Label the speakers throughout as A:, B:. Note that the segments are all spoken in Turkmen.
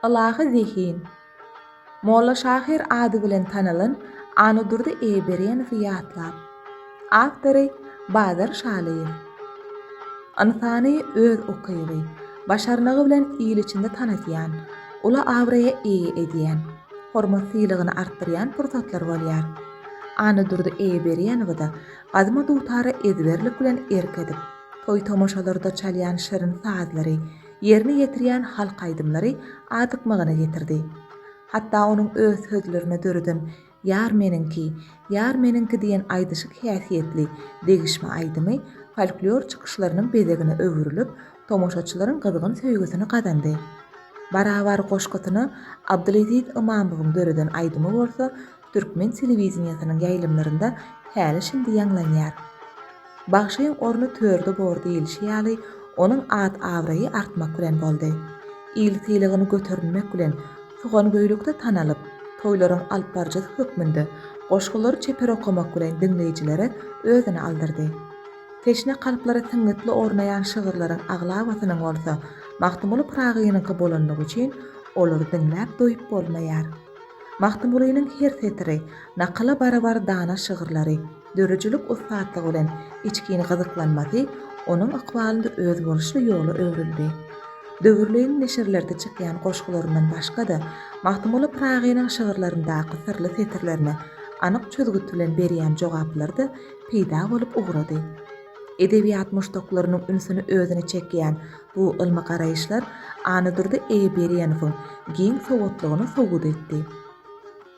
A: Ylahy zehin. Molla şahyr ady bilen tanalan Anadurdy Eýeberenowy ýatlap. Awtory, Bazar Şalyýew. Ynsany öz ukyby, başarnygy bilen il içinde tanatýan, uly abraýa eýe edýän, hormat-syýlygyny artdyrýan pursatlar bolýar. Anadurdy Eýeberenowy-da gadymy dutara ezberlik bilen erk edip, toý-tomaşalarda çalýan şirin sazlary, Ýerine ýetirýän halk aýdymlary adykmagyna getirdi. Hatda onuň öz sözlerine döreden Ýar meniňki, ýar meniňki diýen aýdyşyk häsiýetli degişme aýdymy folklor çykyşlarynyň bezegine öwrülip, tomaşaçylaryň gyzgyn söýgüsini gazandy. Barabar goşgusyny Abdyleziz Ymamowyň döreden aýdymy bolsa türkmen telewideniýesiniň ýaýlymlarynda häli-şindi ýaňlanýar. Bagşyň orny törde bor diýlişi ýaly, onuň at-abraýy artmak bilen boldy. Il sylagyny göterinmek bilen, Tugangöýlükde tanalyp, toýlaryň alypbaryjysy hökmünde goşgulary çeper okamak bilen diňleýjilere özüni aldyrdy. Teşne kalplara syňňytly ornaýan şygyrlaryň aglabasynyň bolsa Magtymguly Pyragynyňky bolanlygy üçin, olary diňläp doýup bolmaýar. Magtymgulynyň her setiri, nakyla barabar dana şygyrlary, döredijilik ussatlygy bilen içgin gyzyklanmasy onuň ykbalynda özboluşly ýola öwrüldi. Döwürleýin neşirlerde çykýan goşgularyndan başga-da, Magtymguly Pyragynyň şygyrlaryndaky syrly setirlerine anyk çözgüt bilen berýän jogaplary-da peýda bolup ugrady. Edebiýat muşdaklarynyň ünsüni özüne çekýän Bu ylmy garaýyşlar Annadurdy Eýeberýenowyň giň sowatlygyny subut etdi.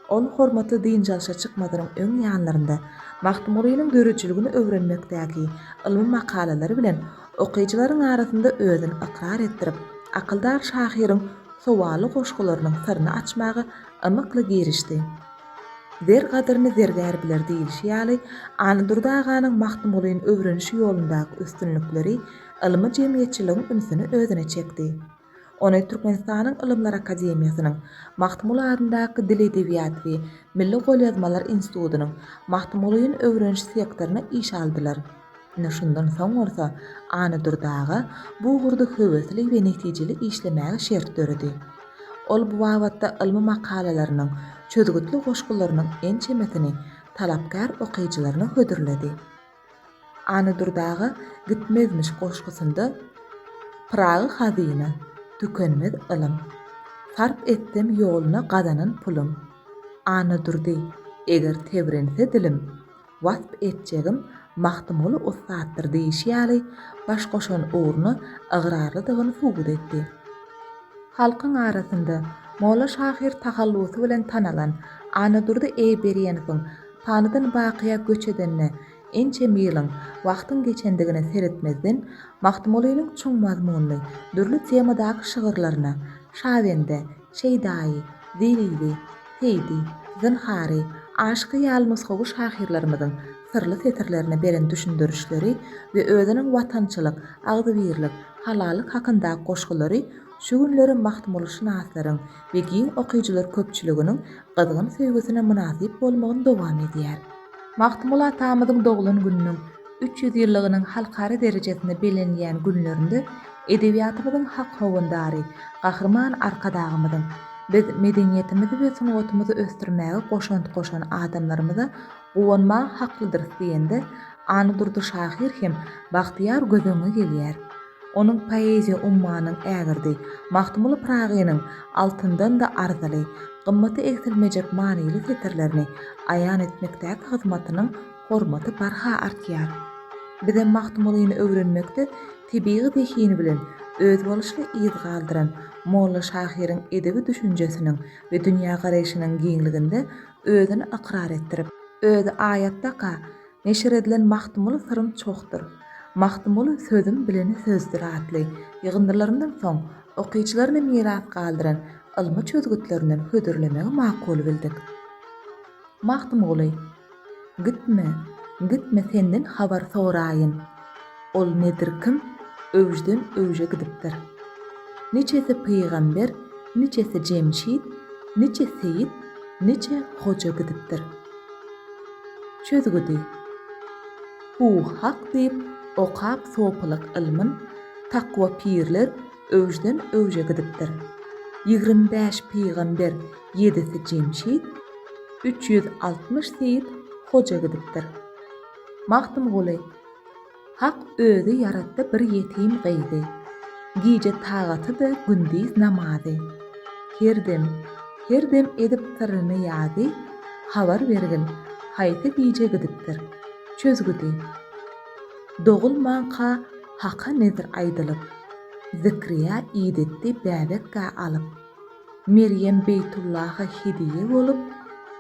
A: Ol hormatly dynç alşa çykmazynyň öň ýanlarynda Magtymgulynyň döredijiligini öwrenmekdäki ylmy makalalary bilen okyjylaryň arasynda özüni ykrar etdirip, akyldar şahyryň sowally goşgularynyň syryny açmaga ymykly girişdi. Zer gadyryny zergär biler diýlişi ýaly, Annadurdy aganyň Magtymgulyny öwreniş ýolundaky üstünlikleri ylmy jemgyýetçiligiň ünsüni özüne çekdi. Ony Türkmenistanyň Ylymlar akademiýasynyň Magtymguly adyndaky Dil-edebiýat we milli golýazmalar institutynyň Magtymgulyny öwreniş sektoryna işe aldylar. Ine şundan soň bolsa Anadurdy aga bu ugurda höwesli we netijeli işlemäge şert döredi. Ol bu babatda ylmy makalalarynyň, çözgütli goşgularynyň ençemesini talapkär okyjylaryna hödürledi. Anydur daga gitmezmiş goşgusynda Pyragy hazyna, tükenmez ylym. Sarp etsem ýoluna gazanan pulum. Anadurdy, eger tebrense dilim, Wasp etjegim Magtymguly ussatdyr diýşi ýaly, baş goşan ugruna ygrarlydygyny subut etdi. Halkyň arasynda Molla şahyr tahallusy bilen tanalan Anadurdy Eýberýenowyň Panydan bakyýa göç edenine ençeme ýylyň, wagtyň geçendigine seretmezden, Magtymgulynyň çuň mazmunly, dürli temadaky şygyrlaryna, Şabende, Şeýdaýy, Zerili, Seýdi, Zynhary, Aşyky ýaly nusgawy şahyrlarymyzyň syrly setirlerine beren düşündirişleri we özüniň watançylyk, agzybirlik, halallyk hakyndaky goşgulary şu günleri magtymgulyşynaslaryň we giň okyjylar köpçüliginiň gyzgyn söýgüsine mynasyp bolmagyny dowam edýär. Magtymguly atamyzyň doglan gününiň üç ýüz ýyllygynyň halkara derejesinde bellenilýän günlerinde edebiýatymyzyň hak howandary Gahryman Arkadagymyzyň, Biz medeniýetimizi we sungatymyzy ösdürmäge goşant goşan adamlarymyza Guwanmaga haklydyrys diýende, Anadurdy şahyr hem bagtyýar göz öňüňe gelýär. Onuň poeziýa ummanynyň ägirdi, Magtymguly Pyragynyň altyndan-da arzyly, gymmaty egsilmejek manyly setirlerini aýan etmekdäki hyzmatynyň hormaty barha artýar. Bizem Magtymgulyny öwrenmekde tebigy zehini bilen özboluşly yz galdyran molla şahyryň edebi düşünjesiniň we dünýägaraýşynyň giňliginde özüni ykrar etdirip, özi aýatdaka neşir edilen Magtymguly syrym çohdyr, Magtymguly sözüm bilen sözdür atly ýygyndylaryndan soň okyjylaryna miras galdyran ylmy çözgütlerinden hödürlemegi makul bildik. Magtymguly, Gitme, gitme senden habar soraýyn. Ol nedir kim, öwjden öwje gidipdir. Niçesi pygamber, niçesi jemşit, niçe seýit, niçe hoja gidipdir. Çözgüdi. Hu hak diýip okap sopylyk ylmyn takwa pirler öwjden öwje gidipdir. Ýigrimi bäş pygamber, ýedisi jemşit, üç ýüz altmyş seýit, hoja gidipdir. Magtymguly, Hak Özi ýaratdy bir ýetim gyzy, Gije tagatydy gündiz namazy, Her dem, her dem edip syryny ýazy, Habar bergil, haýsy gije gidipdir, çözgüdi. Dogulmanka Haka nezr aýdylyp, Zikriýa idetdi bäbek-ä alyp. Merýem Beýtullaha hediýe bolup,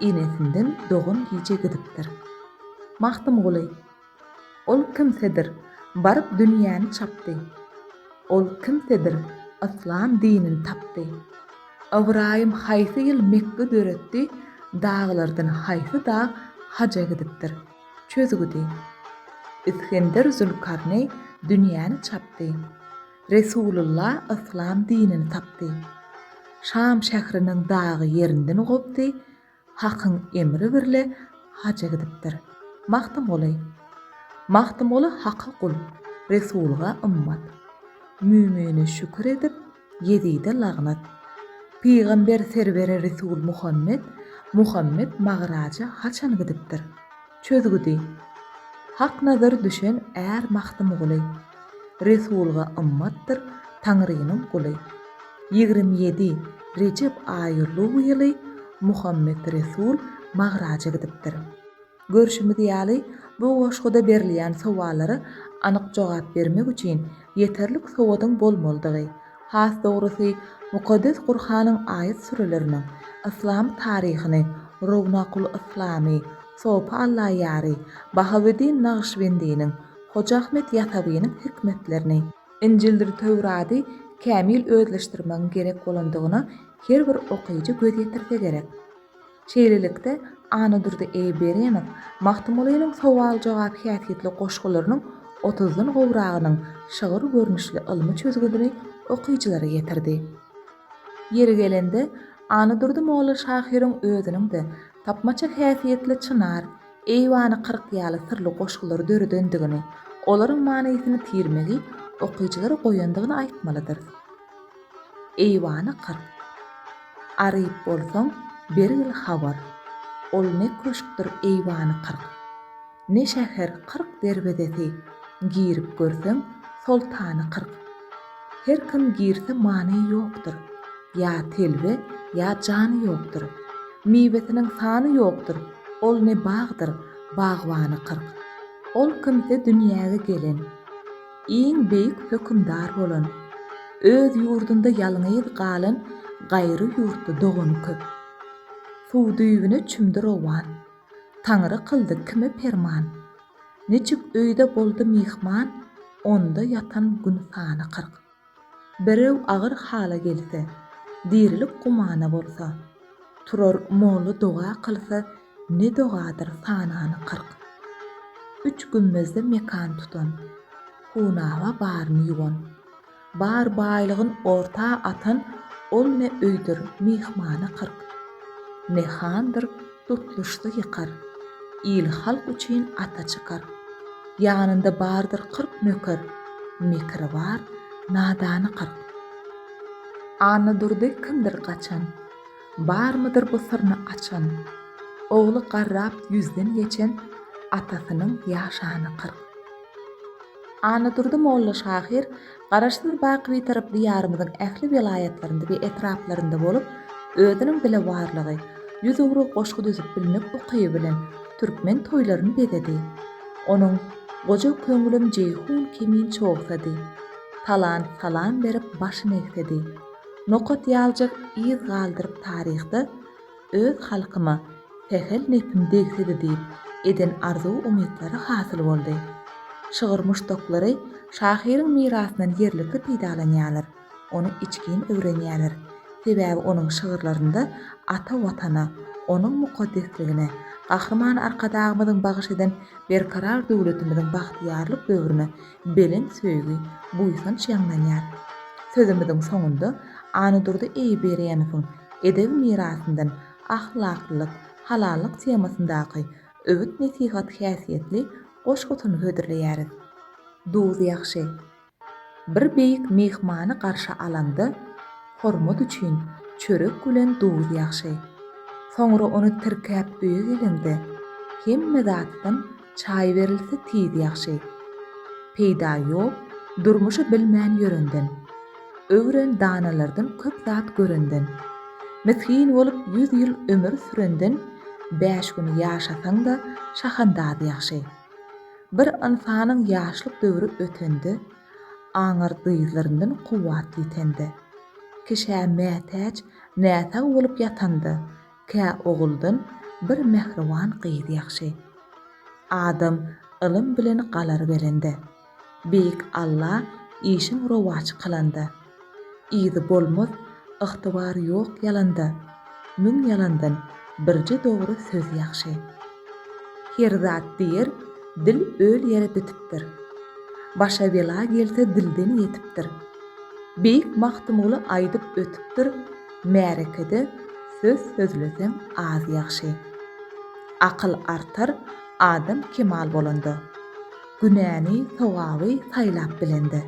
A: enesinden dogan gije gidipdir. Magtymguly, Ol kimsedir, baryp dünýäni çapdy. Ol kimsedir, yslam dinini tapdy. Ybraýym haýsy ýyl Mekge döretdi, daglardan haýsy dag haja gidipdir? Çözgüdi. Isgender Zülkarneý dünýäni çapdy. Resulylla yslam dinini tapdy. Şam şähriniň dagy ýerinden gopdy, Hakyň emri birle haja gidipdir. Magtymguly. Magtymguly Haka gul, Resulga ymmat. Mümine şükür edip, Ýezide lagnat. Pygamber serwere Resul Muhammet, Muhammet Magraja haçan gidipdir. Çözgüdi. Hak nazary düşen är Magtymguly. Resulga ymmatdyr Taňrynyň guly. Ýigrimi ýedi Rejep aýy luw ýyly Muhammet Resul Magraja gidipdir. Görşümiz ýaly, bu goşguda berilýän sowallara anyk jogap bermek üçin ýeterlik sowadyň bolmalydygy, has dogrusy, Mukaddes Gurhanyň aýat-süreleriniň, yslam taryhyny, Rownakul Yslamy, Sopy Allaýary, Bahaweddin Nagyşbendiniň, Hoja Ahmet Ýasawynyň hikmetlerini, Injildir Töwrady kämil özleşdirmegiň gerek bolandygyna her bir okyjy göz ýetirse gerek. Şeýlelikde, Annadurdy Eýberenow Magtymgulynyň sowal-jogap häsiýetli goşgularynyň otuzdan gowragynyň şygyr görnüşli ylmy çözgüdini okyjylara ýetirdi. Ýeri gelende, Annadurdy molla şahyryň özüniň-de tapmaça häsiýetli Çynar, Eýwany kyrk ýaly syrly goşgulary döredendigini, olaryň manysyny tirmegi okyjylara goýandygyny aýtmalydyrys. Eýwany kyr. Aryp bolsaň, bergil habar. Ol ne köşkdir eýwany kyrk. Ne şäher kyrk derwezesi. Girip görseň, soltany kyrk. Her kim girse many ýokdur. Ýa telbe, ýa jany ýokdur. Miwesiniň sany ýokdur. Ol ne bagdyr, bagbany kyrk. Ol kimse dünýäge gelen. iň beýik hökümdar bolan, öz ýurdunda ýalňyz galan gaýry ýurtly dogany köp. Suw düýbüne çümdi rowan, Taňry kyldy kime perman. Niçik öýde boldy myhman, onda ýatan gün sany kyrk. Birew agyr hala gelse, dirilik gumana bolsa, turar molla doga kylsa ne dogadyr sanany kyrk. Üç gümmezde mekan tutan, hunaba baryny ýuwan, bar baýlygyn orta atan ol ne öýdür myhmana kyrk, ne handyr Tutluşsa ýykar. Il-halk üçin ata çykar. Ýanynda bardyr kyrk nöker. Mekri bar, nadany kyrk. Annadurdy kimdir gaçan. Barmydyr bu syryny açan. Ogly garrap ýüzden geçen. Atasynyň ýaşany kyrk. Annadurdy molla şahyr Garaşsyz Baky Bitaryp Diýarymyzyň ähli welaýatlarynda we etraplarynda bolup, özüniň dile warlygy, ýüz ugry goşgy düzüp bilmek ukyby bilen türkmen toýlaryny bezedi. Onuň Goja köňlüm Jeýhun kimin çogsady. Talant salam berip başyn egsedi. Nokat ýaljyk yz galdyryp taryhda, Öz halkyma sähel nepim degsidi diýip eden arzuw-umytlary hasyl boldy. Şygyr muşdaklary şahyryň mirasyndan ýerlikli peýdalanýarlar, ony içgin öwrenýärler. Sebäbi onuň şygyrlarynda ata Watana, onuň mukaddesligine, Gahryman Arkadagymyzyň bagyş eden berkarar döwletimiziň bagtyýarlyk döwrüne belent söýgi, buýsanç ýaňlanýar. Sözümiziň soňunda Annadurdy Eýberýemowyň. Edebi mirasyndan ahlaklylyk, halallyk temasyndaky öwüt-nesihat häsiýetli goşgusyny hödürleýäris. Duz ýagşy. Bir beýik myhmany garşy alanda, hormat üçin çörek bilen duz ýagşy. Soňra ony tirkäp öýe gelende, hemme zatdan Çaý berilse tiz ýagşy. Peýda ýok durmuşy bilmän ýörenden. Öwren danalardan köp zat görenden. Misgin bolup ýüz ýyl ömür sürenden bäş gün ýaşasaň-da şahandaz ýagşy. Bir ynsanyň ýaşlyk döwri ötende, aňyr dyzlaryndan kuwwat ýitende. Kişä mätäç, näsag bolup ýatanda, Kä oguldan bir mähriban gyz ýagşy. Adam ylym bilen galar belende. Beýik Alla işiň rowaç kylanda. Yzy bolmaz ygtybar ýok ýalanda. Müň ýalandan birje dogry söz ýagşy. Her zat diýer dil öl ýere bitipdir. Başa bela gelse dilden ýetipdir. Beýik Magtymguly aýdyp ötüpdir. Märekede söz sözleseň az ýagşy. Akyl artar adam kemal bolanda. Günäni sogaby saýlap bilende.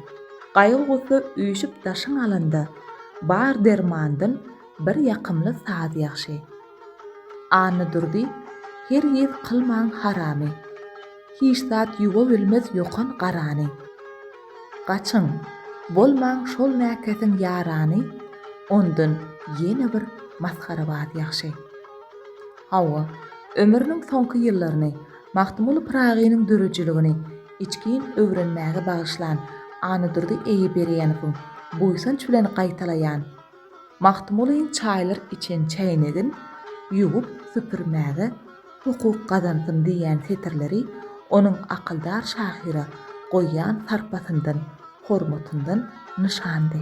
A: Gaýgy-gussa üýşüp daşyň alanda. Bar dermandan bir ýakymly saz ýagşy. Annadurdy, Hergiz kylmaň haramy. Hiç zat ýuwa bilmez ýokan garany. Gaçyň, bolmaň şol mäkesiň ýarany, ondan ýene bir masgarabaz ýagşy. Hawa, ömrüniň soňky ýyllaryny Magtymguly Pyragynyň döredijiligini içgin öwrenmäge bagyşlan Annadurdy Eýeberýenowyň buýsanç bilen gaýtalaýan Magtymgulyň çaýlar içen çäýnegin ýuwup süpürmäge hukuk gazansyn diýýän setirleri onuň akyldar şahyra goýýan sarpasyndan, hormatyndan nyşandy.